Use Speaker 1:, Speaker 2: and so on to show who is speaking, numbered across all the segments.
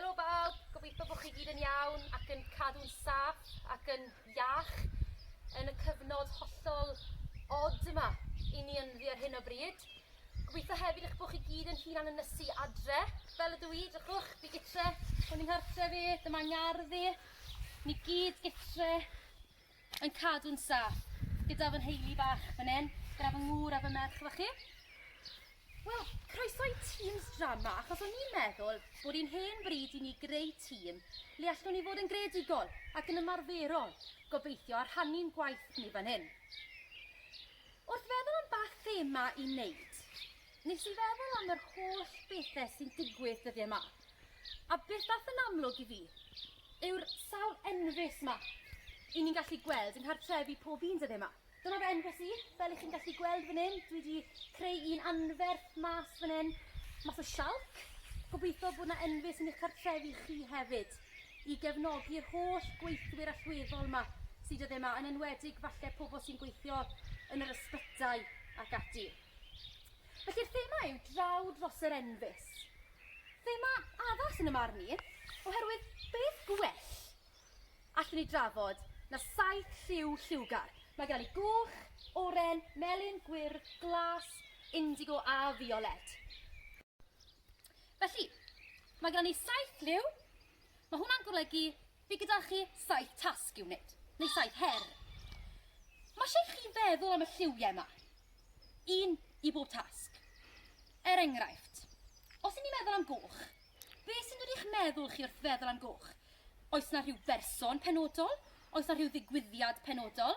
Speaker 1: Helo bawb, gobeithio bod chi gyd yn iawn ac yn cadw'n saff ac yn iach yn y cyfnod hollol od yma i ni ynddi ar hyn o bryd. Gobeithio hefyd eich bod chi gyd yn hunan yn nysu adre, fel ydw i, drychwch, fi gytre, hwn i'n hartre fi, dyma ngardd i, ni gyd gytre, Yn cadw'n saff. Gyda fy nheulu bach fan hyn, gyda fy ngŵr a fy merch fach i. Wel, croeso i Teams Drama, achos o'n i'n meddwl bod hi'n hen bryd i ni greu tîm le allwn ni fod yn greadigol ac yn ymarferol, gobeithio ar rhannu'n gwaith ni fan hyn. Wrth feddwl am ba thema i wneud, nes i feddwl am yr holl bethau sy'n digwydd dyddiau yma. A beth ddaeth yn amlwg i fi yw'r sawl enfys ma i ni'n gallu gweld yng nghartrefi pob un dyddiau ma. Dyma fy enfys i, fel i chi'n gallu gweld fan hyn, dwi wedi creu un anferth mas fan hyn, mas o sialc. Gobeithio bod yna enfys yn eich cartrefi chi hefyd, i gefnogi'r holl gweithwyr allweddol yma sydd dyddiau yma, yn enwedig falle pobl sy'n gweithio yn yr ysbytai ac ati. Felly'r thema yw draw dros yr enfys. Ble mae addas yn y marn i, oherwydd beth gwell allwn ni drafod na saith lliw lliwgar. Mae genna ni goch, oren, melyn, gwyrdd, glas, indigo a fiolet. Felly, mae genna ni saith lliw, mae hwnna'n golygu Fi gyda chi saith tasg i'w wneud, neu saith her. Mae eisiau i chi feddwl am y lliwiau yma. Un i bob tasg. Er enghraifft, os i ni meddwl am goch, beth sy'n dod i'ch meddwl chi wrth feddwl am goch? Oes yna rhyw berson penodol? Oes yna rhyw ddigwyddiad penodol?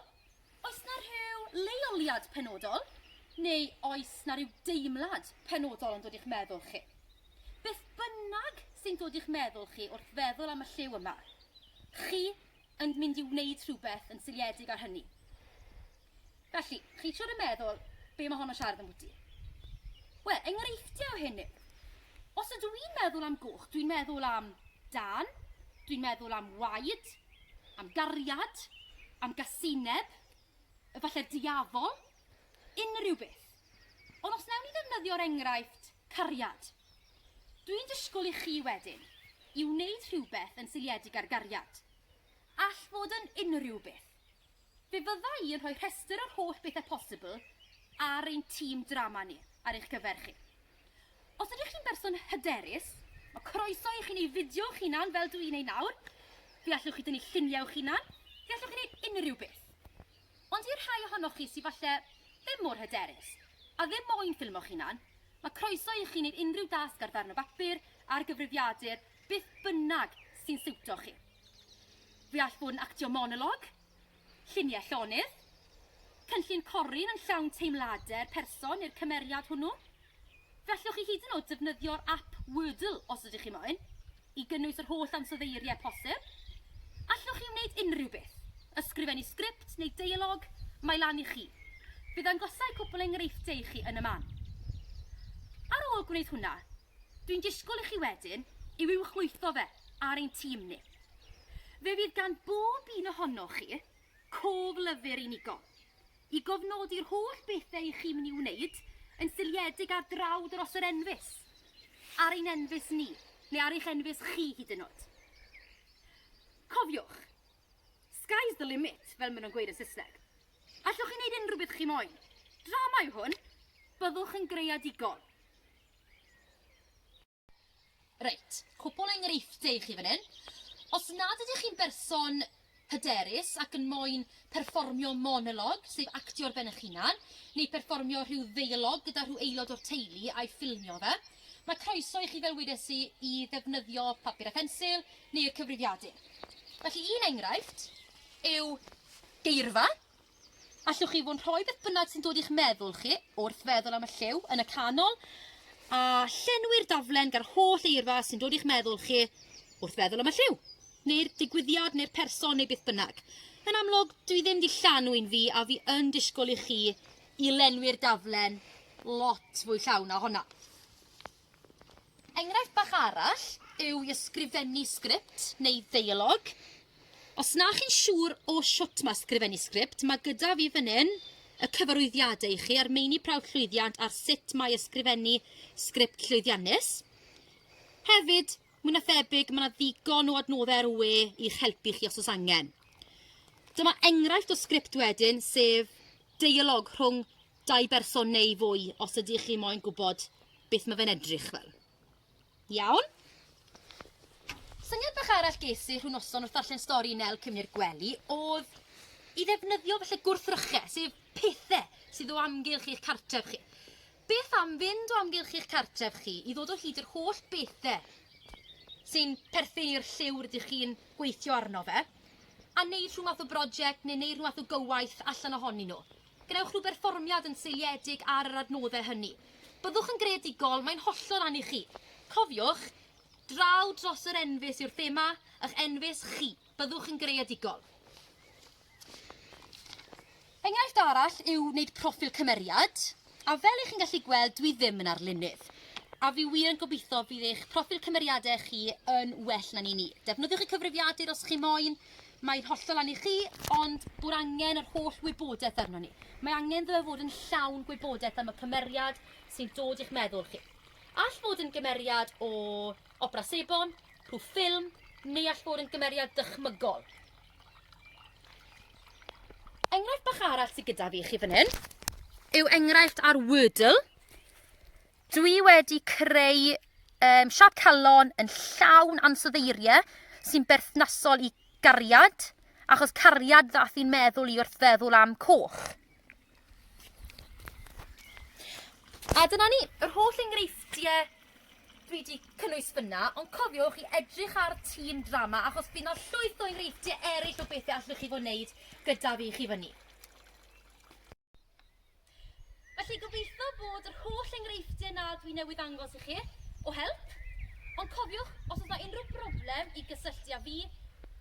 Speaker 1: Oes 'na rhyw leoliad penodol, neu oes 'na ryw deimlad penodol yn dod i'ch meddwl chi? Beth bynnag sy'n dod i'ch meddwl chi wrth feddwl am y lliw yma, chi yn mynd i wneud rhywbeth yn seiliedig ar hynny. Felly, chi siwr yn meddwl be mae hon yn siarad ambwti? Wel, enghreifftiau o hyn yw, os ydw i'n meddwl am goch, dwi'n meddwl am dan, dwi'n meddwl am waed, Am gariad? Am gasineb? Efalle'r diafol? Unrhyw beth. Ond os newn ni ddefnyddio'r enghraifft cariad, dwi'n disgwyl i chi wedyn i wneud rhywbeth yn seiliedig ar gariad. All fod yn unrhyw beth. Fe fydda i yn rhoi rhestr o'r holl bethau posibl ar ein tîm drama ni ar eich cyfer chi. Os ydych chi'n berson hyderus, mae croeso i chi wneud fideo eich hunan fel dw i'n ei nawr, fe allwch chi dynnu lluniau o'ch hunan, fe allwch chi wneud unrhyw beth. Ond i'r rhai ohonoch chi sydd falle ddim mor hyderus a ddim moyn ffilmo'ch hunan, mae croeso i chi wneud unrhyw dasg ar ddarn o bapur, ar gyfrifiadur, beth bynnag sy'n siwto chi. Fe all fod yn actio monolog, lluniau llonydd, cynllun corun yn llawn teimladau'r person neu'r cymeriad hwnnw. Fe allwch chi hyd yn oed defnyddio'r ap Wordle, os ydych chi moyn, i gynnwys yr holl ansoddeiriau posib. Allwch chi wneud unrhyw beth, ysgrifennu sgript neu deialog, mae lan i chi. Fe ddangosai cwpl enghreifftiau i chi yn y man. Ar ôl gwneud hwnna, Dwi'n disgwyl i chi wedyn i'w uwchlwytho fe ar ein tîm ni. Fe fydd gan bob un ohonoch chi cof lyfr unigol i gofnodi'r holl bethau i chi'n mynd i wneud yn seiliedig ar draw dros yr enfys, ar ein enfys ni, neu ar eich enfys chi hyd yn oed. Cofiwch, sky's the limit, fel maen nhw'n gweud yn Saesneg. Allwch chi wneud unrhyw beth chi moyn. Drama yw hwn, byddwch yn greadigol. Reit, cwpwl o enghreifftiau i chi fan hyn. Os nad ydych chi'n berson hyderus ac yn moyn perfformio monolog, sef actio ar ben eich hunan, neu berfformio rhyw ddeialog gyda rhyw aelod o'r teulu a'i ffilmio fe, mae croeso i chi fel wedes i i ddefnyddio papur a phensil neu'r cyfrifiadur. Felly un enghraifft yw geirfa. Allwch chi fod yn rhoi beth bynnag sy'n dod i'ch meddwl chi wrth feddwl am y lliw yn y canol a llenwi'r daflen gan holl eirfa sy'n dod i'ch meddwl chi wrth feddwl am y lliw neu'r digwyddiad neu'r person neu beth bynnag. Yn amlwg, dwi ddim di llanw un fi a fi yn disgwyl i chi i lenwi'r daflen lot fwy llawn na honna. Enghraifft bach arall yw i ysgrifennu sgript neu ddeialog. Os na chi'n siŵr o shwt mae ysgrifennu sgript, mae gyda fi fan hyn y cyfarwyddiadau i chi ar meini prawf llwyddiant ar sut mae ysgrifennu sgript llwyddiannus. Hefyd, mwy na thebyg, mae yna ddigon o adnoddau ar y we i'ch helpu chi os oes angen. Dyma enghraifft o sgript wedyn, sef deialog rhwng dau berson neu fwy os ydych chi moyn gwybod beth mae fe'n edrych fel. Iawn? Syniad bach arall ges i rhyw noson wrth ddarllen stori i Nel Cymru'r Gwely oedd i ddefnyddio falle gwrthrychau, sef pethau sydd o amgylch eich cartref chi. Beth am fynd o amgylch eich cartref chi i ddod o hyd i'r holl bethau sy'n perthyn i'r lliw rydych chi'n gweithio arno fe, a wneud rhyw math o brosiect neu wneud rhyw math o gywaith allan ohonyn nhw. Gwnewch rhyw berfformiad yn seiliedig ar yr adnoddau hynny. Byddwch yn greadigol, mae'n hollol ran i chi. Cofiwch, Draw dros yr enfys yw'r thema, ych enfys chi. Byddwch yn greadigol. Enghraifft arall yw wneud proffil cymeriad, a fel i chi'n gallu gweld, dwi ddim yn arlunydd. A fi wir yn gobeithio bydd eich proffil cymeriadau chi yn well na ni ni. Defnyddiwch y cyfrifiadur os chi moyn, Mae'n hollol lan i chi, ond bod angen yr holl wybodaeth arno ni. Mae angen ddo fod yn llawn gwybodaeth am y cymeriad sy'n dod i'ch meddwl chi. All fod yn gymeriad o opera sebon, rhyw ffilm, neu all fod yn gymeriad dychmygol. Enghraifft bach arall sydd gyda fi chi fan hyn yw enghraifft ar Wordle. Dwi wedi creu um, siap calon yn llawn ansoddeiriau sy'n berthnasol i gariad, achos cariad ddath i'n meddwl i wrth feddwl am coch. A dyna ni, yr holl enghreifftiau dwi wedi cynnwys fyna, ond cofiwch i edrych ar tîm drama, achos bydd yna llwyth o enghreifftiau eraill o bethau allwch chi fod wneud gyda fi chi fyny. Felly, gobeithio bod yr holl enghreifftiau yna dwi newydd ddangos i chi o help, ond cofiwch, os oes yna unrhyw broblem i gysylltu â fi,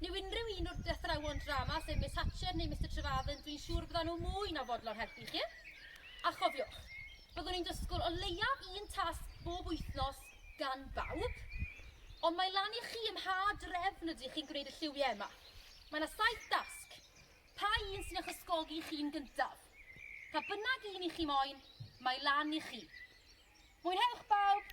Speaker 1: neu unrhyw un o'r athrawon drama, sef Miss Hatcher neu Mister Trevathan, dwi'n siŵr byddan nhw mwy na fodlon helpu chi. A chofiwch, byddwn ni'n dysgwyl o leiaf un tasg bob wythnos gan bawb, ond mae lan i chi ym mha drefn ydych chi'n gwneud y lliwiau yma. Mae yna saith dasg. Pa un sy'n eich ysgogi chi'n gyntaf? Pa bynnag un i chi moyn, mae lan i chi. Mwynhewch bawb!